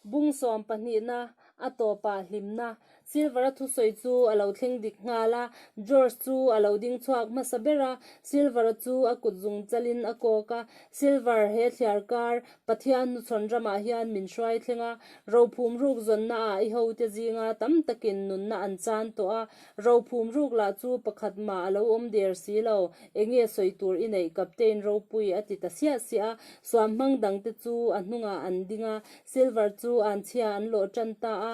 Bung sawm pahnihna, a tawpa hlimna. Silvera thusawi chu a lo thleng dik nghal a, George chu a lo ding chhuak hmasa ber a. Silvera chu a kut zung chalhin a kawk a, Silver, he thliar kar Pathian hnuchhawn ramah hian min hruai thleng a, rophum rukzawnna ah i hote zinga tam takin nunna an chan tawh a, Rophum ruk lah chu pakhat mah a lo awm der si lo, eng nge sawi tur i neih Captain Ropui a ti ta siah siah a, suam hmang dang te chu a hnungah an ding a, Silver chu an chhia an lawh tan ta a,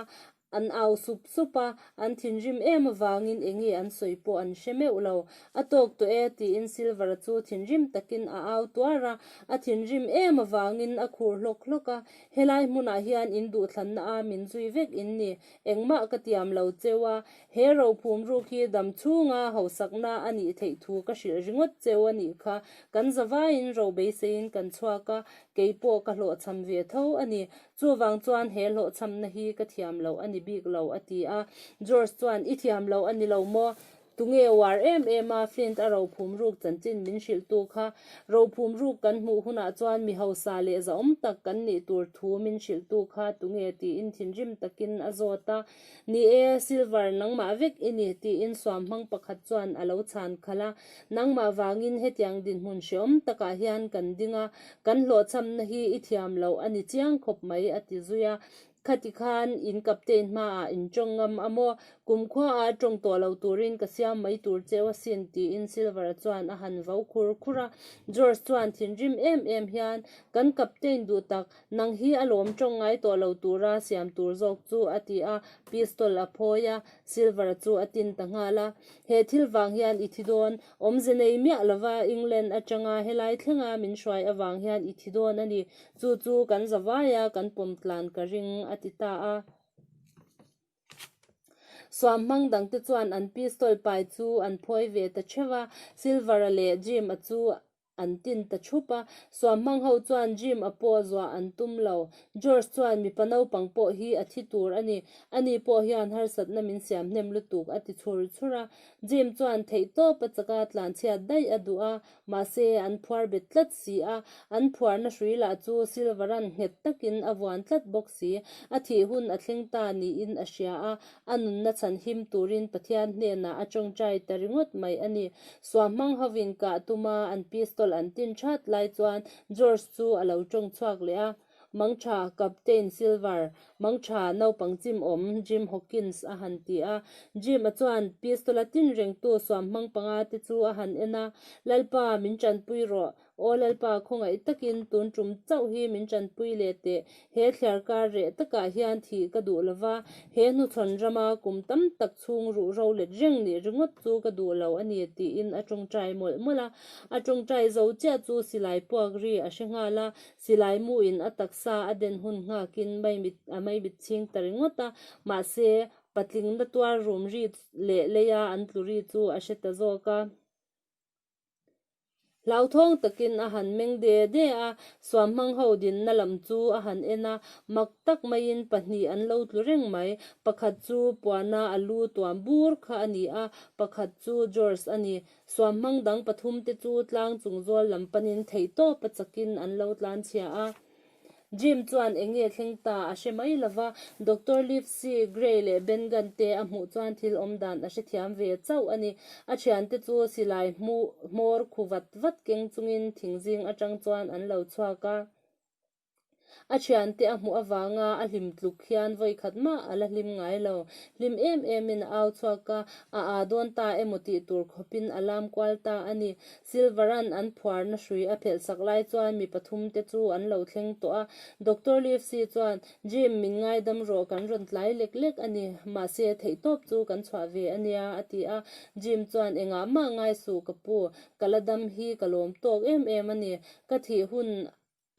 an au sup sup a, an thinrim em avangin eng nge an sawi pawh an hre meuh lo. A tawk tawh e tiin Silver chu thinrim takin a au tuar a, a thinrim em avangin a khur hlawk hlawk a, helai hmunah hian in duhthlanna a min zui vek in ni, Engmah ka tiam lo cheu a, he rophum ruk hi dam chhunga hausakna a nih theih thu ka hrilh ringawt cheu a nih kha. Kan zavaiin ro beiseiin kan chhuak a, kei pawh ka hlawhchham ve tho a ni. Chuvang chuan he hlawhchhamna hi ka thiam loh a ni bik lo a ti a. George chuan, I thiam loh a ni lo maw? Tunge uar em em a, Flint a rophum ruk chanchin min hrilhtu kha, rophum ruk kan hmuh hunah chuan mi hausa leh zahawm tak kan nih tur thu min hrilhtu kha tunge tiin thinrim takin a zawt a, Ni e, Silver, nangmah vek i ni, tiin suam hmang pakhat chuan a lo chhan khalh a, nangmah vangin hetiang dinhmun hrehawm takah hian kan ding a, kan hlawhchhamna hi i thiam loh a ni chiang khawp mai, a ti zui a. Khati khan inkapte'n hmaah in tawng ngam a maw? Kumkhua-a tawng tawh loh turin ka siam mai tur cheu a sin, tiin Silver-a chuan a han vo khur khur a. George chuan thinrim em em hian, Kan kapte'n duh tak, nang hi a lawm tawng ngai tawh lo tura siam tur zawk chu, a ti a, pistol a phawi a. Silver-a chu a tin ta nghal a, He thil vang hian i thi dawn. Awmze nei miah lova England atanga helai thlenga min hruai avang hian i thi dawn a ni. Chu chu kan za vai a, kan pawm tlan ka ring, a ti ta a. Suam hmang dang te chuan an pistol pai chu an phawi ve ta theuh a, Silver-a leh Jim-a chu an tin ta thup a. Suam hmang ho chuan Jim-a pawh zuah an tum lo. George chuan, Mipa naupang pawh hi a thi tur a ni. A ni pawh hian harsatna min siam hnem lutuk, a ti chhur chhur a. Jim chuan theih tawp a chak a, tlanchhiat daih a duh a, Mahse, an phuar bet tlat si a, an phuarna hrui lah chu Silvera'n nghet takin a vuan tlat bawk si. A thih hun a thleng ta niin a hria a, a nunna chhan him turin Pathian hnenah a ṭawngṭai ta ringawt mai a ni. Suah hmang hovin kah tuma an pistol an tin ṭhat lai chuan George chu a lo ṭawng chhuak leh a, Mangṭha captain Silver, Mangṭha naupang chimawm Jim Hawkins a han ti a. Jim-a chuan pistol a tin rengtu suam hmang panga te chu a han en a, Lalpa, min ṭanpui rawh. Aw Lalpa, khawngaih takin tun ṭum chauh hi min ṭanpui leh teh. He thliar kar reh takah hian thih ka duh lo va, he hnuthlawn rama kum tam tak chhung ruh ro let reng nih ringawt chu ka duh lo a ni, tiin a ṭawngṭai mawlh mawlh a. A ṭawngṭai zo chiah chu silai puak ri a hre nghal a, Silai mu in a taksa a den hun nghak in a mei mit ching ta ringawt a, mahse patlikna tuar rum ri leh lei a an tlu ri chu a hre ta zawk a. Hlauthawng tak in a han meng de de a, suam hmang ho dinna lam chu a han en a, mak tak mai in pahnih an lo tlu reng mai. Pakhat chu Puana a lu tuam bur kha a ni a, pakhat chu George a ni. Suam hmang dang pathum te chu tlang chung zual lam panin theih tawp a chakin an lo tlan chhia a. Jim chuan eng nge thleng ta a hre mai lo va. Doctor Livesey, Gray leh Ben Gunn te a hmuh chuan thil awm dan a hrethiam ve chauh a ni. A thian te chu silai hmawr khu vat vat keng chungin thing zing atang chuan an lo chhuak a. A thiante a hmuh avanga a hlim tluk hian vawi khat mah a la hlim ngai lo. Hlim em emin a au chhuak a, a aa dawn ta emaw tih tur khawpin a lam kual ta a ni. Silvera'n an phuarna hrui a phelh sak lai chuan mi pathum te chu an lo thleng tawh a. Doctor Livesey chuan, Jim, min ngaidam rawh, kan rawn tlai lek lek a ni. Mahse, theihtawp chu kan chhuah ve a nia, a ti a. Jim chuan, Engah mah ngai suh ka pu, ka la dam hi ka lawm tawk em em a ni. Ka thih hun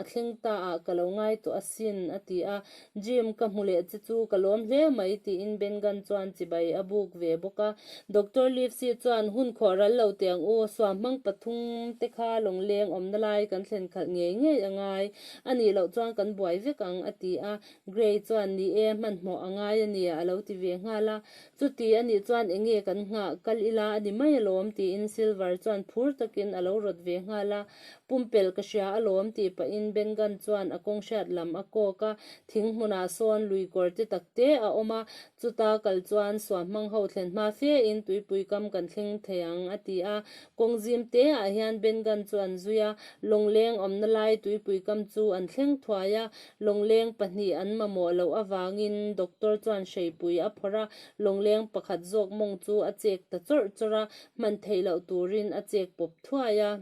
a thleng ta ah ka lo ngai tawh asin, a ti a. Jim, ka hmu leh che chu ka lawm hle mai, tiin Bengan chuan chibai a buk ve bawk a. Doctor Livesey chuan, Hun khawh ral lo teh ang u, suam hmang pathum te kha lawngleng awmna lai kan thlen khalh ngei ngei a ngai, a nih loh chuan kan buai vek ang, a ti a. Gray chuan, Ni e, hmanhmawh a ngai a nia, a lo ti ve nghal a. Chuti a nih chuan eng nge kan nghah, kal ila a ni mai alawm, tiin Silver chuan phur takin a lo rawt ve nghal a. Pumpel ka hria alawm tih pahin Bengan chuan a kawng hriat lam a kawk a. Thing hmunah sawn lui kawrte takte a awm a, chuta kal chuan suah hmang ho thlen hma fe in tuipui kam kan thleng thei ang a ti a. Kawng zim te ah hian Bengan chu an zui a, lawngleng awmna lai tuipui kam chu an thleng thuai a, Lawngleng pahnih an mamawh loh avangin doctor chuan hreipui a phawrh a, lawngleng pakhat zawk mawng chu a chek ta chawrh chawrh a, hman theih loh turin a chek pawp thuai a.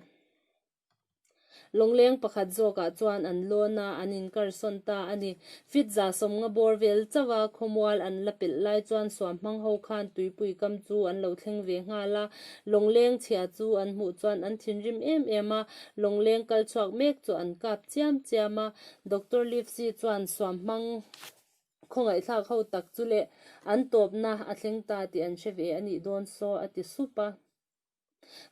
Lawngleng pakhat zawkah chuan an lawn a, an inkar sawn ta a ni. Fitza sawmnga bawr vel chauh a, khawmual an la pelh lai chuan suam hmang ho khan tuipui kam chu an lo thleng ve nghal a, Lawngleng chhia chu an hmuh chuan an thinrim em em a, lawngleng kal chhuak mek chu an kap chiam chiam a. Doctor Livesey chuan suam hmang khawngaihthlak ho tak chu leh an tawpna a thleng ta tih an hre ve a nih dawn saw a ti sup a.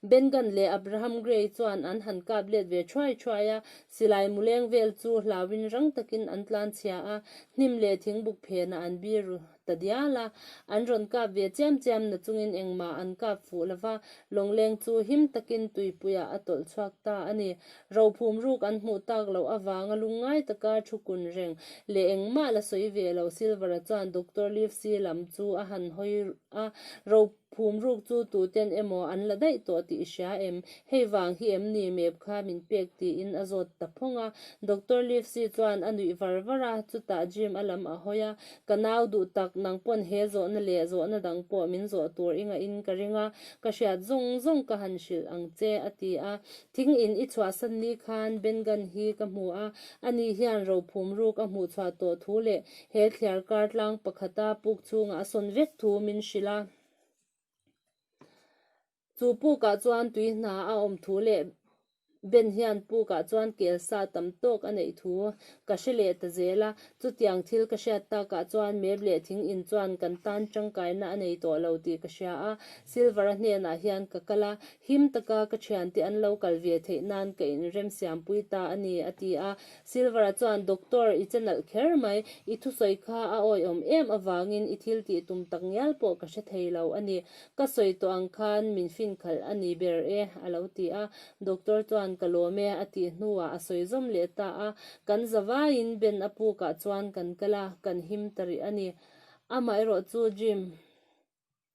Ben Gunn leh Abraham Gray chuan an han kap let ve thuai thuai a, silai muleng vel chu hlauin rang takin an tlanchhia a, hnim leh thingbuk phenah an bir. ta dial a, an rawn kap ve chiam chiam na chungin engmah an kap fuh lo va, Lawngleng chu him takin tuipuiah a tawlh chhuak ta a ni. Rophum ruk an hmuh tak loh avanga lung ngai taka thu kun reng leh engmah la sawi ve lo Silvera chuan Doctor Livesey lam chu a han hawi a, ro. Phumruk chu tuten emaw an la daih tawh tih i hria em? Hei vang hi em ni mep kha min pek tiin a zawt ta phawng a. Doctor Livesey chuan a nuih var var a, chutah Jim a lam a hawi a, Ka nau duh tak, nang pawn he zawhna leh zawhna dang pawh min zawh tur i ngaihin ka ring a, ka hriat zawng zawng ka han hrilh ang che, a ti a. Thing in i chhuahsan ni khan Bengan hi ka hmu a, ani hian rophum ruk a hmuh chhuah tawh thu leh he thliar kar tlang pakhata puk chungah a sawn vek thu min hrilh a. Chu pukah chuan tui hna a awm thu leh Ben hian pukah chuan kel sa tam tawk a neih thu ka hre leh ta zel a. Chutiang thil ka hriat takah chuan Mep leh Thing in chuan kan tan tangkaina a nei tawh lo tih ka hria a. Silvara hnenah hian ka kal a, Him taka ka thian tih an lo kal ve theih nan ka inremsiampui ta a ni, a ti a. Silvera chuan, Doctor, i che nalh kher mai. I thusawi kha a awiawm em avangin i thil tih tum tak ngial pawh ka hre thei lo a ni. Ka sawi tawh ang khan min fin khalh a ni ber e, a lo ti a. Doctor chuan, Ka lawm e, a tih hnuah a sawi zawm leh ta a. Kan zavaiin Ben a pukah chuan kan kal a, kan him ta rih a ni. Amaherawhchu Jim.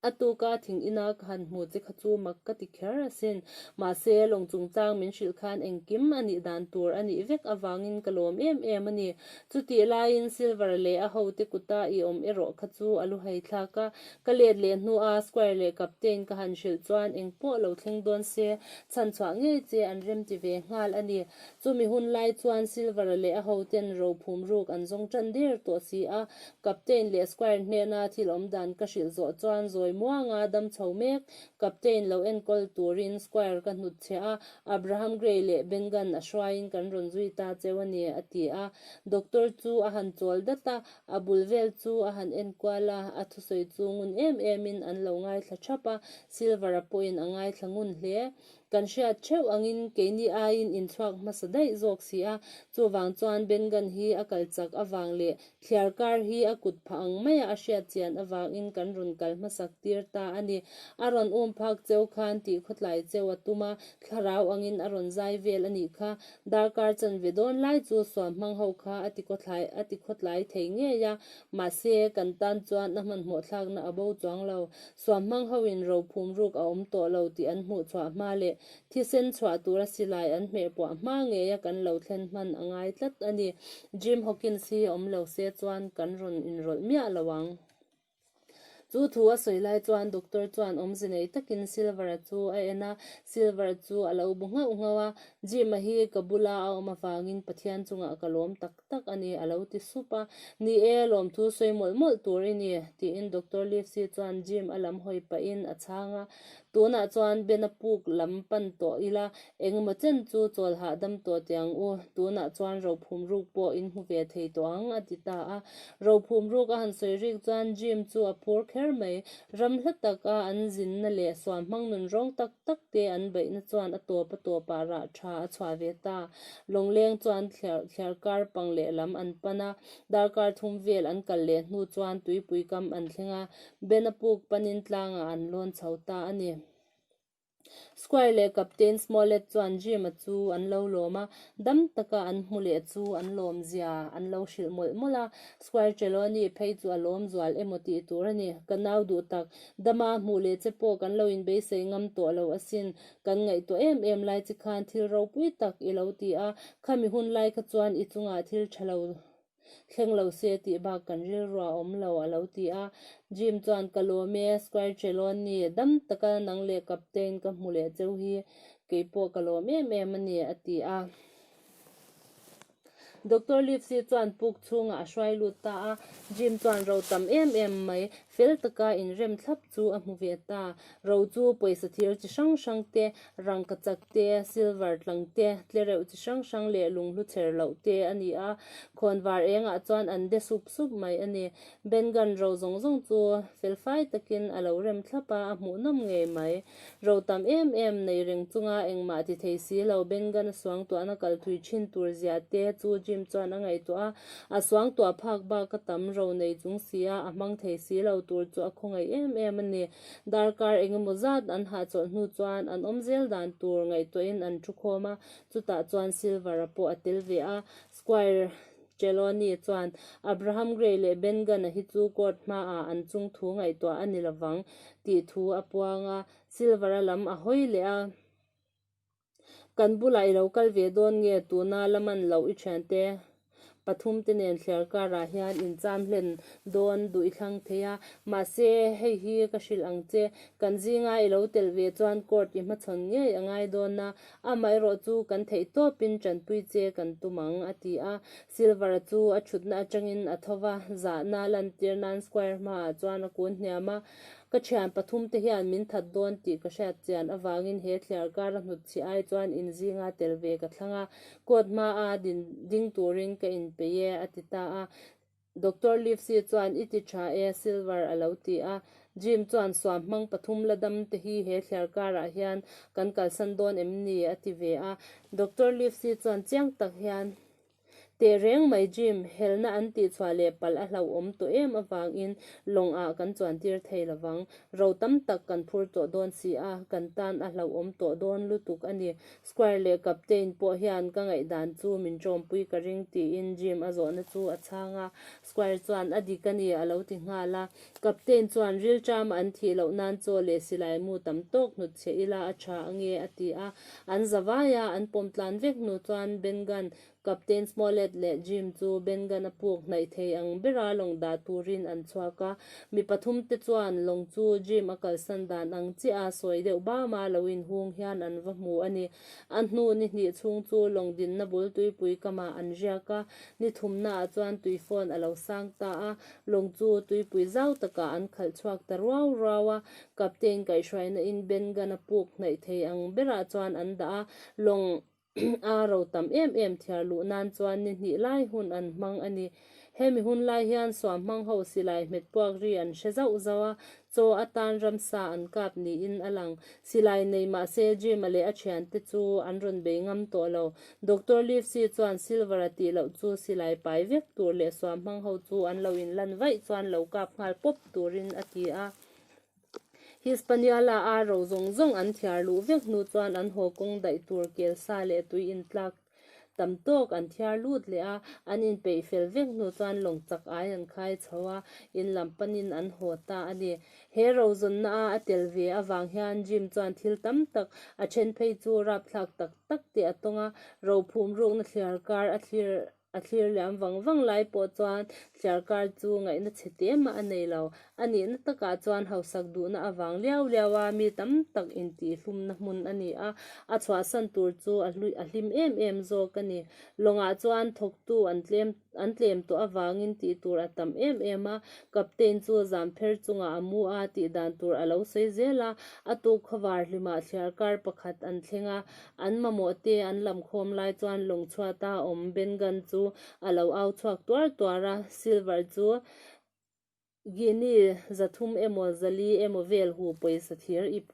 A tuk a, thing ina ka han hmu che kha chu mak ka ti kher asin. Mahse, lawng chungchang min hrilh khan engkim a nih dan tur a nih vek avangin ka lawm em em a ni. Chutih laiin Silver leh a hote kuta i awm erawh kha chu a lu hai thlak a. Ka let leh hnua square leh captain ka han hrilh chuan engpawh lo thleng dawn se, chhan chhuah ngei che an rem ti ve nghal a ni. Chumi hun lai chuan Silver leh a hote'n rophum ruk an zawng ṭan der tawh si a, Captain leh Squire hnena thil awm dan ka hrilh zawh chuan zawi muanga dam chho mek. Captain lo enkawl turin Squire ka hnut chhe a, Abraham Gray leh Ben Gunn a hruaiin kan rawn zui ta cheu a ni, a ti a. Doctor chu a han chawl dat a, a bul vel chu a han enkual a, a thusawi chu ngun em emin an lo ngaithla thap a, Silver-a pawhin a ngaithla ngun hle. Kan hriat theuh angin keini aiin inchhuak hmasa daih zawk si a, chuvang chuan Bengan hi a kal chak avang leh thliar kar hi a kut phah ang maia a hriat chian avangin kan rawn kal hmasak tir ta a ni. A rawn um phak cheu khan tih khawtlai cheu a tum a, thlarau angin a rawn zai vel a nih kha. Darkar chan ve dawn lai chu suam hmang ho kha a ti khawtlai a ti khawtlai thei ngei a, mahse kan tan chuan a hmanhmawhthlakna a bo chuang lo. Suam hmang ho in ro phum ruk a awm tawh lo tih an hmuh chhuah hma leh thisen chhuah tur a si lai an hmeh puah hma ngei a kan lo thlen hman a ngai tlat a ni. Jim Hawkins hi a awm lo se chuan kan rawn inrawlh miah lo ang. Chu thu a sawi lai chuan Doctor chuan awmze nei takin Silver-a chu a en a, Silver-a chu a lo bu nghauh nghauh a, Jim-a hi ka bula a awm avangin Pathian chungah ka lawm tak tak. tak a ni a lo ti sup a. Ni e, lawm thu sawi mawlh mawlh tur i ni, tiin Doctor Livesey chuan Jim a lam hawi pahin a chhang a. Tunah chuan Ben a puk lam pan tawh ila, engemaw chen chu chawlhah dam tawh teh ang u, tunah chuan rophum ruk pawh in hmu ve thei tawh ang a ti ta a. Rophum ruk a han sawi rik chuan Jim chu a phur kher mai. Ram hla tak a, an zinna leh suan hmangnun rawng tak. tak te an baihna chuan a tawp a tawp a rah tha a chhuah ve ta. Lawngleng chuan thliarh thliarh kar pang leh lam an pan a, darkar thum vel an kal leh hnu chuan tuipui kam an thleng a, Ben a puk panin tlangah an lawn chho ta a ni. Squire leh Captain Smollett chuan gym a chu an lo lawm a, dam taka an hmu leh chu an lawm zia an lo hrilh mawlh mawlh a, Squire Trelawney phei chu a lawmzual emaw tih tur a ni. Ka nau duh tak. Dama hmuh leh che pawh kan lo inbeisei ngam tawh lo asin. Kan ngaihtuah em em lai chi khan thil ropui tak i lo ti a, khami hun lai kha chuan i chungah thil tha lo thleng lo si a tih bak kan rilrua awm lo, a lo ti a. Jim chuan, Ka lawm e, Squarechellon ni, dam taka nang leh Captain ka hmu leh cheu hi kei pawh ka lawm em em a ni, a ti a. Doctor Livesey chuan puk chhungah a hruai lut ta a, Jim chuan ro tam em em mai, fel taka inrem thlap chu a hmu ve ta. Ro chu pawisa thir chi hrang hrang te, rangka chak te, silver tlang te, tle reuh chi hrang hrang leh lung hlu chher loh te a ni a, khawn var engah chuan an de sup sup mai a ni. Ben gun ro zawng zawng chu felfai takin a lo rem thlap a, a hmuhnawm ngei mai. Ro tam em em neih reng chunga engmah ti thei si lo, Bengana suangtuahna kal thui thin tur zia te chu Jim chuan a ngaihtuah a, a suangtuah phak bak a tam ro nei chung si a, a hmang thei si lo tur chu a khawngaih em em a ni. Darkar eng emaw zat an hahchawlh hnu chuan an awm zel dan tur ngaihtuahin an thu khawm a, chutah chuan Silver-a pawh a tel ve a, Squire Trelawney chuan, Abraham Gray leh Ben Gunn-a hi chu court hmaah an chung thu ngaihtuah a ni lovang tih thu a puang a. Silver-a lam a hawi leh a, Kan bulah i lo kal ve dawn nge? Tuna la man loh i thiante pathum te nen thler karah hian in cham hlen dawn duh i thlang thei a. Mahse, hei hi ka hrilh ang che. Kan zinga i lo telh ve chuan court i hmachhawn ngei a ngai dawn a. Amaherawh chu kan theih tawpin Tanpui che kan tum ang, a ti a. Silver-a chu a thutna atangin a tho va, zahna lantir nan Squire hmaah chuan a kun hniam a, Ka thian pathum te hian min that dawn tih ka hriat chian avangin he thliar kara hnut chhi ai chuan in zinga tel ve ka thlang a, court hmaa din ding turin ka inpeih e, a ti ta a. Doctor Livesey chuan, I ti tha e, Silver a lo ti a. Jim chuan, Suam hmang pathum la dam te hi he thliar karah hian kan kalsan dawn em ni? a ti ve a. Doctor Livesey chuan chiang tak hian, Teh reng mai Jim, helna an tih chhuah leh palh a hlauhawm tawh em avangin lawng ah kan chuan tir thei lo vang. Ro tam tak kan phur tawh dawn si a, kan tan a hlauhawm tawh dawn lutuk a ni. Square leh captain pawh hian ka ngaih dan chu min ṭawmpui ka ring tiin Jim a zawhna chu a chhang a. Square chuan a dik a ni a lo ti nghal a. Captain chuan rilṭam an thih loh nan chaw leh silai mu tam tawk hnut chhe ila a ṭha ange a ti a. An za vai a, an pawm tlan vek hnu chuan Ben Gunn Captain Smollett leh Jim chu Bengan a puk hnaih thei ang bera lawng dah turin an chhuak a. Mi pathum te chuan lawng chu Jim a kalsan dan ang chiah a, sawi deuh bama lo in hung hian an va hmu a ni. A hnu ni hnih chhung chu lawng dinna bul tuipui kamah an riak a, ni thumna ah chuan tui fawn a lo sang ta a, lawng chu tuipui zau takah an khalh chhuak ta ruau ruau a. Captain kaihhruaina in Bengan a puk hnaih thei ang berah chuan an dah a, lawng a ro tam em em thiar luh nan chuan ni hnih lai hun an hmang a ni. Hemi hun lai hian suam hmang ho si lai hmet puak ri an hre zauh zauh a, chaw atan ramsa an kap niin a lang. Si lai nei mah se Jim-a leh a thian te chu an rawn bei ngam tawh lo. Doctor Livesey chuan Silver-a tih loh chu si lai pai vek tur leh suam hmang ho chu an lo in lan vaih chuan lo kap nghal pawp turin a ti a. Hispaniola a ro zawng zawng an thiar luh vek hnu chuan an haw kawng daih tur kel sa leh tui in tlak tam tawk an thiar lut leh a, an in peih fel vek hnu chuan lawng chak ai an khai chho a, in lam pan in an haw ta a ni. He ro zawn na a a tel ve avang hian Jim chuan thil tam tak a then phei chu rapthlak tak tak te a tawng a, ro phum ruk na thliar kar a thlir A thlir leh ang vang vang lai pawh chuan Sialkar chu ngaihna chhe te mah a nei lo. A nihna takah chuan hausak duhna a vang liau liau a, mi tam tak intihhlumna hmun a ni a, a chhuahsan tur chu a hlui a hlim em em zawk a ni. Lawngah chuan thawktu an tlem an tlem tawh avangin tih tur a tam em em a, Captain chu zampher chungah a mu a, tih dan tur a lo sawi zel a, a tuk khawvar hlimah Sialkar pakhat an thleng a, An mamawh te an lam khawm lai chuan lawngchhuata awm Bengal chu a lo au chhuak tuar tuar a. Silver chu Guinea zathum emaw zali emaw vel hu pawisa thir ip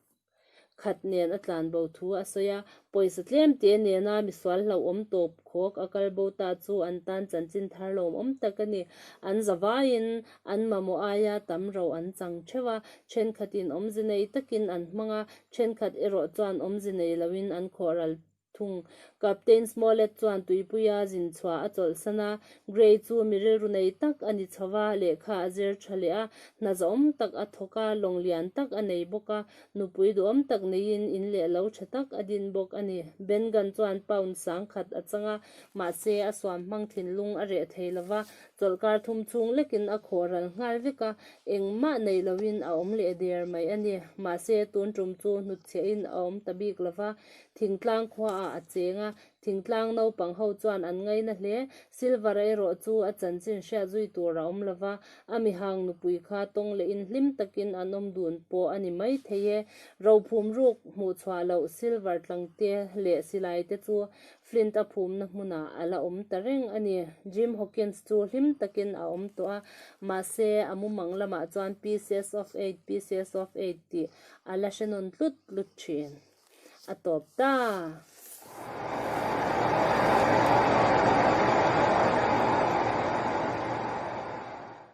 khat nen a tlan bo thu a sawi a. Pawisa tlem te nena misual hlauh awm tawp khawk a kal bo ta chu an tan chanchin thar lawm awm tak a ni. An zavaiin an mamawh aia tam rauh an chang theuh a. Thenkhatin awmze nei takin an hmang a, Thenkhat erawh chuan awmze nei loin an khawh ral thung. Captain Smollett chuan tuipuia zin chhuah a chawlh san a, Gray chu mi rilru nei tak a ni chauh a, lehkha a zer tha leh a, hna zauhawm tak a thawk a, lawng lian tak a nei bawk a, nupui duhawm tak neiin in leh lo tha tak a din bawk a ni. Bengan chuan pound sangkhat a chang a, mahse a suam hmang thinlung a reh thei lova, Chawlhkar thum chhung lekin a khawh ral nghal vek a, engmah neih loin a awm leh der mai a ni. Mahse, tun tum chu hnutchhiahin a awm ta bik lo va, thingtlang khuaah a cheng a, thingtlang naupang ho chuan an ngaina hle. Silvara erawh chu a chanchin hriat zui tur a awm lo va, a mi hang nupui kha tawng lehin hlim takin an awm dun pawh a ni maithei e. Rophum ruk hmuh chhuah loh Silvar tlangte leh silaite chu Flint a phumna hmunah a la awm ta reng a ni. Jim Hawkins chu hlim takin a awm tawh a, mahse a mumang lamah chuan Pieces of Eight, Pieces of Eight tih a la hre nawn tlut tlut thin a tawp ta.